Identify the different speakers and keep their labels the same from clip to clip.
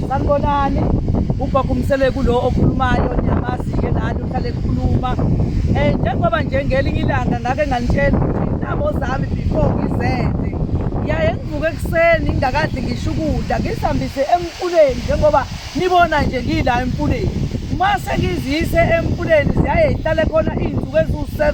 Speaker 1: sanibonani ugogo umsele kulo okhulumayo niyamazi-ke nani uhlale ekhuluma um eh, njengoba nje ngelinye ilanga ngake nganitshela ukuthi intamo zami before ngizende ngiyaye ngivuke ekuseni ngingakadli ngisho ukudla ngisihambise emquleni njengoba Nibona nje ngila emfuleni. Mase ngizise emfuleni ziyaye ihlale khona izinsuku eziwu-7.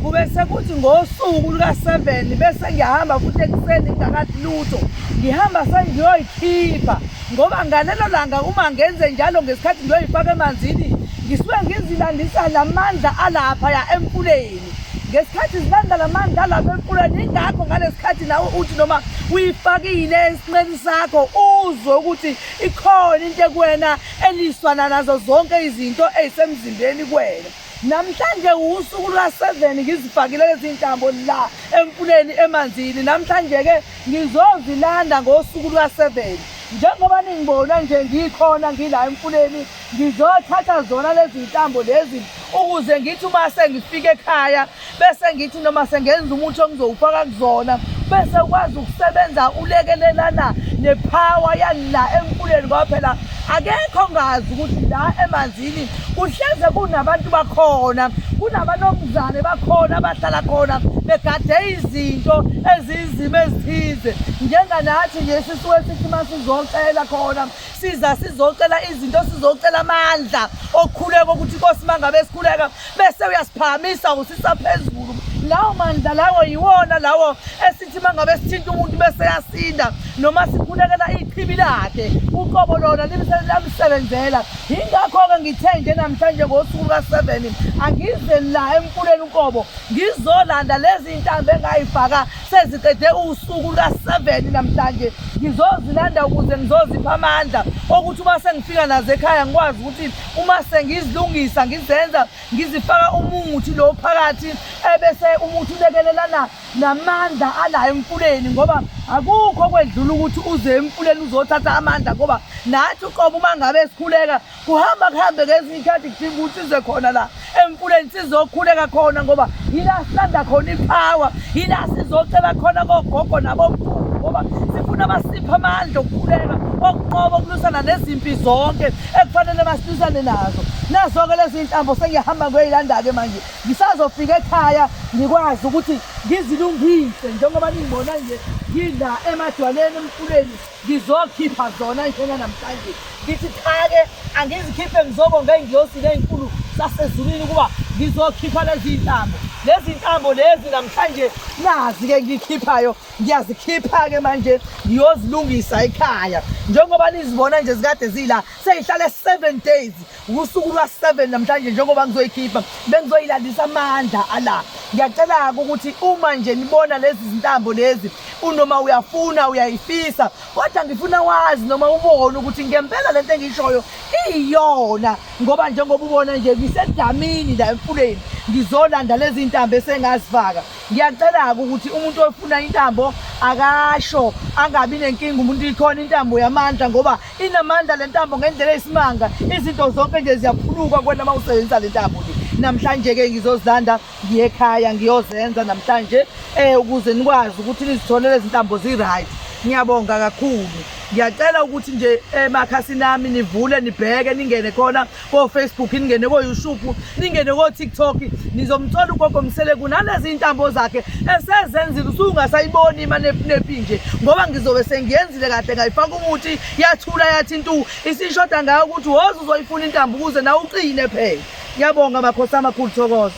Speaker 1: Kube sekuthi ngosuku luka-7 bese ngiyahamba futhi ekuseni ngingakathi lutho. Ngihamba sengiyoyikhipha ngoba ngalelo langa uma ngenze njalo ngesikhathi ngiyoyifaka emanzini ngisuke ngizilandisa namandla alapha ya emfuleni. ngesikhathi zibanda la mandla alapha emfuleni ingakho ngalesikhathi nawe uthi noma uyifakile esinqeni sakho uzwe ukuthi ikhona into ekuwena eliswana nazo zonke izinto ezisemzimbeni kuwena namhlanje usuku luka-7 ngizifakile lezi ntambo la emfuleni emanzini namhlanje-ke ngizozilanda ngosuku luka-7 njengoba ningibona nje ngikhona ngila emfuleni Ngizothatha zona lezi ntambo lezi ukuze ngithi uma sengifika ekhaya bese ngithi noma sengenza umuthi ongizowufaka kuzona bese ukwazi ukusebenza ulekelelana nephawa yala emfuleni ngoba phela akekho ongazi ukuthi la emanzini kuhleze kunabantu bakhona kunabanomzane bakhona abahlala khona begade izinto eziyizimo ezithize njenganathi nje sisuke sithi uma sizocela khona siza sizocela izinto sizocela amandla okukhuleka ukuthi inkosi mangabe sikhuleka bese uyasiphakamisa usisaphezulu lawo mandla lawo yiwona lawo esithi mangabe sithinta umuntu bese yasinda noma sikhulekela ichibi lakhe uqobo lona lamsebenzela yingakho-ke ngithe nje namhlanje ngosuku luka-seven angize la emfuleni uqobo ngizolanda lezi ntambo engayifaka Seziqede usuku luka-7 namhlanje ngizozilanda ukuze ngizozipha amandla okuthi uma sengifika nazo ekhaya ngikwazi ukuthi uma sengizilungisa ngizenza ngizifaka umuthi lo phakathi ebese umuthi ulekelelana namandla ala emfuleni ngoba akukho kwedlula ukuthi uze emfuleni uzothatha amandla ngoba nathi uqobo uma ngabe sikhuleka kuhamba kuhambe ngezinye iy'khathi kudinga ukuthi size khona la emfuleni sizokhuleka khona ngoba yila silanda khona iphawa yila sizocela khona kogogo nabomkhulu ngoba sifuna basiphe amandla okukhuleka okunqoba ukulusana nezimpi zonke ekufanele basilusane nazo nazo-ke lezi ntambo sengiyahamba ngiyoyilanda-ke manje ngisazofika ekhaya ngikwazi ukuthi ngizilungise njengoba ningibona nje ngila emadwaleni emfuleni Ngizokhipha zona njena namhlanje ngithi cha-ke angizikhiphe ngizobonga iy'ngiyosi ley'nkulu sasezulwini ukuba ngizokhipha lezi ntambo lezi ntambo lezi namhlanje nazi-ke ngikhiphayo ngiyazikhipha-ke manje ngiyozilungisa ekhaya njengoba nizibona nje zikade zila seyihlale seven days Wusuku lwa-7 namhlanje njengoba ngizoyikhipha bengizoyilandisa amandla ala ngiyacela-ke ukuthi uma nje nibona lezi zintambo lezi unoma uyafuna uyayifisa kodwa ngifuna wazi noma ubone ukuthi ngempela le nto engiyishoyo iyiyona ngoba njengoba ubona nje ngisedamini la emfuleni ngizolanda lezi ntambo esengazifaka ngiyacela-ke ukuthi umuntu ofuna intambo akasho angabi nenkinga umuntu ikhona intambo yamandla ngoba Inamandla le ntambo ngendlela eyisimanga, izinto zonke nje ziyaphuluka kwena uma usebenzisa le ntambo le. Namhlanje-ke ngizozilanda ngiye ekhaya ngiyozenza namhlanje um ukuze nikwazi ukuthi nizitholele izintambo zi-right. Ngiyabonga kakhulu. Ngiyacela ukuthi nje emakhasini ami nivule nibheke ningene khona kofacebook ningene koyoushuphu ningene kotiktok nizomthola ugogo mseleku nalezi iy'ntambo zakhe esezenzile usungasayiboni imanepunepi nje ngoba ngizobe sengiyenzile kahle ngayifaka umuthi yathula yathi ntu isishoda ngayo ukuthi woze uzoyifuna intambo ukuze nawe uqine phela ngiyabonga makhosi amakhulu thokoza